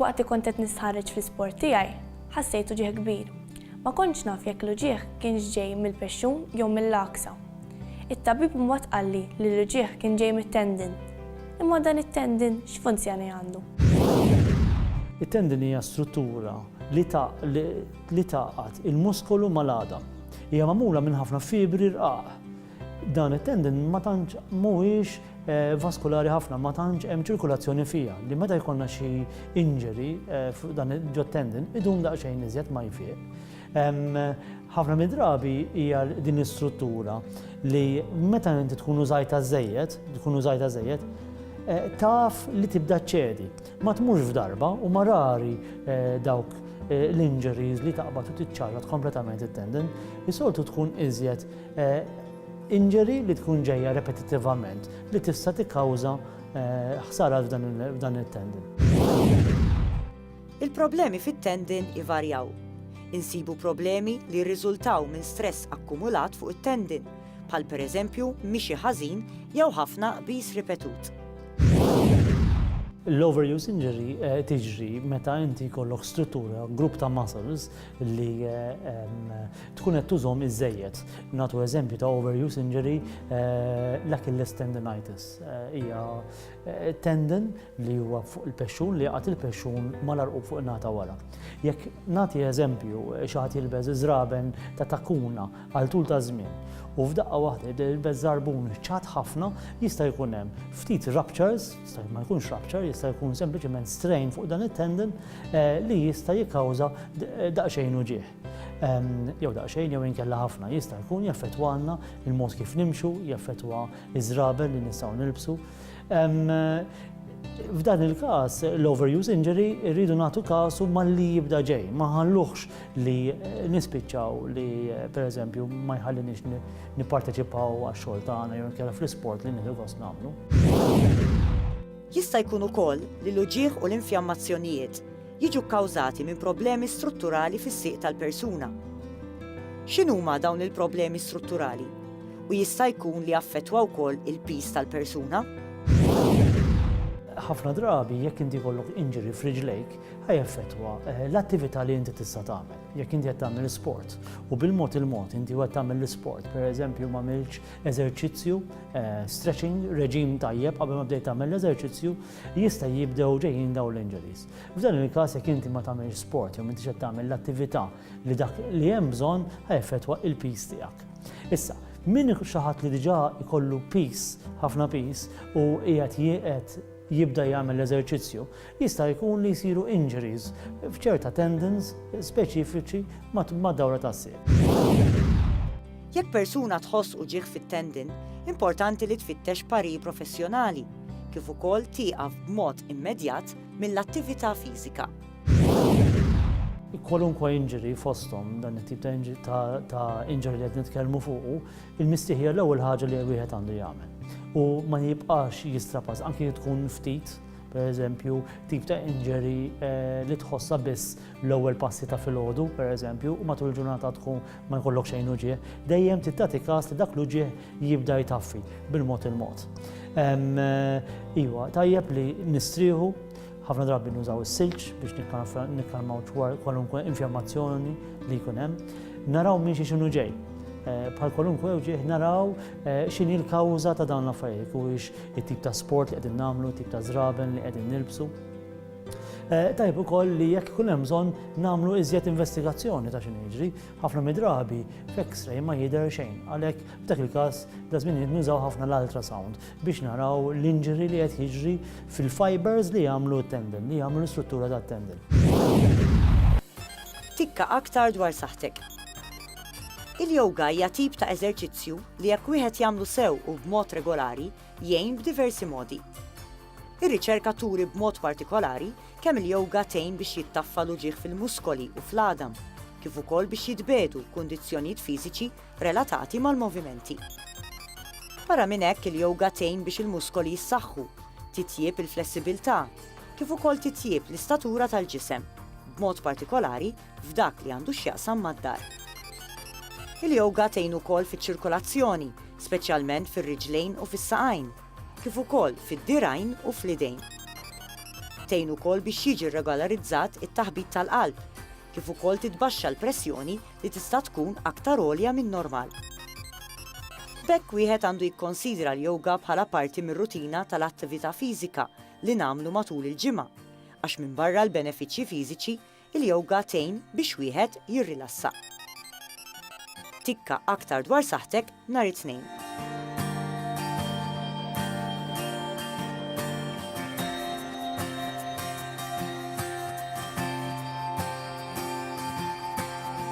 Waqt li kont qed nistħarreġ fl-isport tiegħi, ħassejt uġigħ kbir. Ma kontx naf jekk l-uġigħ kienx ġej mill-pexxun jew mill-għaksa. It-tabib imbagħad qalli li l-uġigħ kien ġej mit-tendon. Imma dan it-tendon x'funzjoni għandu? It-tendon hija struttura li tgħaqqad il-muskolu mal-għadam. Hija magħmula minn ħafna fibri rqaq. Dan it-tendon ma tantx mhuwiex vaskulari ħafna, ma tantx hemm ċirkulazzjoni fiha li meta jkollna xi injury fuq dan ġot-tendon idum daqsxejn iżjed ma jfiq. Ħafna mid-drabi hija din l-istruttura li meta inti tkun użajtha żejjed, tkun użajtha żejjed, taf li tibda ċċedi. Ma tmurx f'darba u ma rari dawk l-injuries li taqbad u tiċċarrat kompletament it-tendon, is-soltu tkun iżjed E. Injury li tkun ġejja repetittivament li tista' tikkawża ħsara f'dan it-tendon. Il-problemi fit-tendon ivarjaw. Insibu problemi li jirriżultaw minn stress akkumulat fuq it-tendon, bħal pereżempju mixi ħażin jew ħafna qbiż ripetut. L-overuse injury tiġri meta inti jkollok struttura, grupp ta' muscles, li tkun qed tużhom iżejjed. Natu eżempju ta' overuse injury eh, l-Achilles tendinitis. Eh, hija eh, tendon li huwa fuq il-pexxun li jaqgħet il-pexxun mal-arqub fuq nata wara. Jekk nagħti eżempju xi ħadd jilbeż iżraben ta' takuna għal tul ta' żmien u f'daqqa waħda jilbeż żarbun ċat ħafna jista' jkun hemm ftit ruptures Jista' ma jkunx rupture, jista' jkun sempliċement strain fuq dan it-tendon eh, li jista' jikkawża daqsxejn uġieħ. Ehm, jew daqsxejn jew inkella ħafna jista' jkun jaffettwa għandna il-mod kif nimxu, jaffettwa iż-żrabel li nistgħu nilbsu. Ehm, f'dan il-każ l-overuse injury rridu nagħtu kasu malli jibda ġej, ma ħalluħx li eh, nispiċċaw li eh, pereżempju ma jħallinix nipparteċipaw għax-xogħol tagħna jew inkella fl-isport li nieħdu gost nagħmlu. Jista' jkun ukoll li l-uġigħ u l-infjammazzjonijiet jiġu kkawżati minn problemi strutturali fis-sieq tal-persuna. X'inhuma dawn il-problemi strutturali u jista' jkun li jaffettwa wkoll il-piż tal-persuna? Ħafna drabi jekk inti jkollok injury f'riġlejk ħaj jaffettwa eh, l-attività li inti tista' tagħmel. jekk inti qed tagħmel sport. U bil-mod il-mod inti qed tagħmel l-isport, pereżempju ma milx eżerċizzju, eh, stretching, reġim tajjeb qabel ma bdejt tagħmel l-eżerċizzju, jista' jibdew ġejjin dawn l-injuries. F'dan il-każ jekk inti ma tagħmel sport jew inti qed tagħmel l-attività li dak li hemm bżonn ħajfetwa il-pis tiegħek. Issa, min xi ħadd li diġà jkollu pis, ħafna pis, u qiegħed jieqed jibda jagħmel l-eżerċizzju, Jista' jkun li jsiru injuries f'ċerta tendons speċifiċi mad-dawra tas-sieq. Jekk persuna tħoss uġigħ fit-tendon, importanti li tfittex parir professjonali, kif ukoll tieqaf b'mod immedjat mill-attività fiżika. Kwalunkwe injury fosthom dan it-tip ta' injury li qed nitkellmu fuqu, il-mistieħ hija l-ewwel ħaġa li wieħed għandu jagħmel u ma jibqax jistrapaż anki jekk tkun ftit, per eżempju, tip ta' injury eh, li tħossa biss l-ewwel passi ta' filgħodu, per eżempju, u matul il-ġurnata tkun ma jkollok xejn uġieħ, dejjem tittati każ li dak l-uġieħ jibda jtaffi bil-mod il-mod. Eh, iwa, tajjeb li nistrieħu ħafna drabi nużaw is-silġ biex nikkalmaw kwalunkwe infjammazzjoni li jkun hemm. Naraw minn xi xinu ġej. Eh, bħal kwalunkwe uġieħ naraw x'inhi l-kawża ta' dawn l-affarijiet it-tip ta' sport li qegħdin nagħmlu, it-tip ta' żraben li qegħdin nilbsu. Eh, tajb ukoll li jekk ikun hemm bżonn nagħmlu iżjed investigazzjoni ta' x'in jiġri, ħafna midrabi f'X-ray ma jidher xejn. Għalhekk f'dak il-każ da żmien nużaw ħafna l-ultrasound biex naraw l-injury li qed jiġri fil-fibers li jagħmlu t-tendon, li jagħmlu l-istruttura tat-tendon. Tikka aktar dwar saħtek. Il-yoga hija tip ta' eżerċizzju li jekk wieħed jagħmlu sew u b'mod regolari jgħin b'diversi modi. Ir-riċerka turi b'mod partikolari kemm il-yoga tgħin biex jittaffa l-uġigħ fil-muskoli u fl-għadam, kif ukoll biex jitbiegħdu kundizzjonijiet fiżiċi relatati mal-movimenti. Barra minn hekk il-yoga tgħin biex il-muskoli jissaħħu, titjieb il-flessibilità, kif ukoll titjieb l-istatura tal-ġisem, b'mod partikolari f'dak li għandu x'jaqsam mad-dar. Il-yoga tgħin ukoll fiċ-ċirkolazzjoni, speċjalment fir-riġlejn u fis-saqajn, kif ukoll fid-dirgħajn u fl-idejn. Tgħin ukoll biex jiġi rregolarizzat it-taħbit tal-qalb, kif ukoll titbaxxa l-pressjoni li tista' tkun aktar għolja min-normal. B'hekk wieħed għandu jikkonsidra l-yoga bħala parti mir-rutina tal-attività fiżika li nagħmlu matul il-ġimgħa, għax minbarra l-benefiċċji fiżiċi, Il-yoga tgħin biex wieħed jirrilassa. Tikka aktar dwar saħħtek nhar it-Tnejn.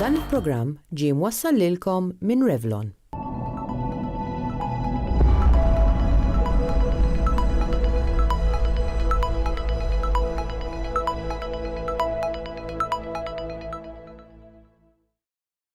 Dan il-programm ġie mwassal lilkom minn Revlon.